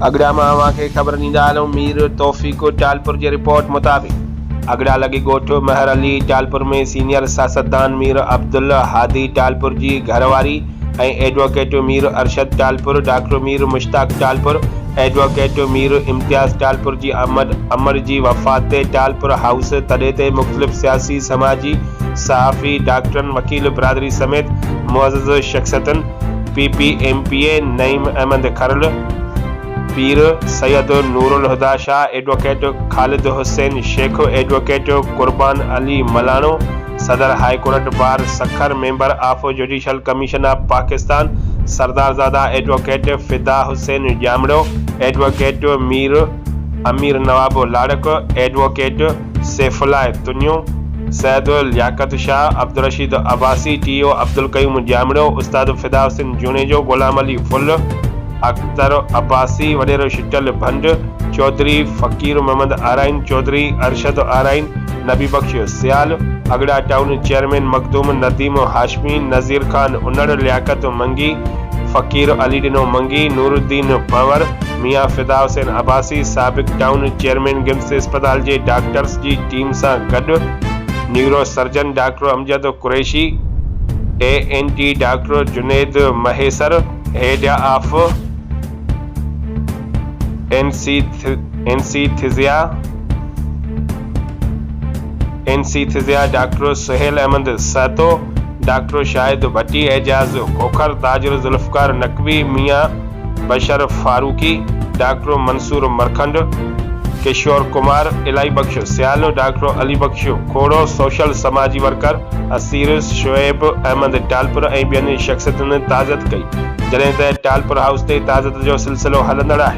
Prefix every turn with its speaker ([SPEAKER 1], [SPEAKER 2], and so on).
[SPEAKER 1] اڳڙا مان اوهان کي خبر ڏيندا هلون مير توفيق ٽالپر جي رپورٽ مطابق اڳڙا لڳي ڳوٺ مهر علي ٽالپر ۾ سينيئر سياستدان مير عبدالهادي ٽالپر جي گهرواري ۽ advocate Mir Arshad Talpur, doctor Mir Mushtaq Talpur, advocate Mir Imtiaz Talpur جي آمد امڙ جي وفات تي ٽالپر هائوس تڏي تي مختلف سياسي، سماجي، صحافي، ڊاڪٽرن، وڪيل برادري سميت معزز شخصيتن P P M P A Naeem Ahmed Kharal, Pir Syed Noorulhuda Shah, advocate Khalid Hussain Shaikh, advocate Qurban Ali Malano, صدر high court bar Sukkur member of judicial commission of Pakistan سردارزاده advocate Fida Hussain Jamro, advocate Mir Amir Nawab Larik, advocate Saifullah Tunio, Syed Liaquat Shah, Abdulrasheed Abbasi, T O Abdulqayyum Jamro, استاد فدا حسين جوڻيجو، غلام علي ڦل، اختر عباسي، وڏيرو شٽل ڀنڊ، چوڌري فقير محمد آرائين، چوڌري ارشد آرائين، نبي بخش سيال، اڳڙا ٽائون چيئرمين مخدوم نديم هاشمي، نذير خان انڙ، لياقت منگي، فقير علي ڏنو منگي، نورالدين ڀنور، ميان فدا حسين عباسي، سابق ٽائون چيئرمين گمس اسپتال جي ڊاڪٽرس جي ٽيم سان گڏ neuro surgeon doctor Amjad Qureshi, E N T doctor Junaid Mahesar, head of. Anaesthesia, Anesthesia، doctor Sohail Ahmed Sahto, doctor Shahid Bhatti, Ejaz Khokhar, تاجر Zulfiqar Naqvi, Mian Bashar Farooqui, doctor Mansoor Markhand, Kishore Kumar, Allah Bakhsh Sial, doctor Ali Bakhsh Khoro, social سماجي ورڪر اسيرس، شعيب، احمد ٽالپر ۽ ٻين شخصيتن تعزيت ڪئي، جڏهن ته ٽالپر هائوس تي تعزيت جو سلسلو هلندڙ آهي.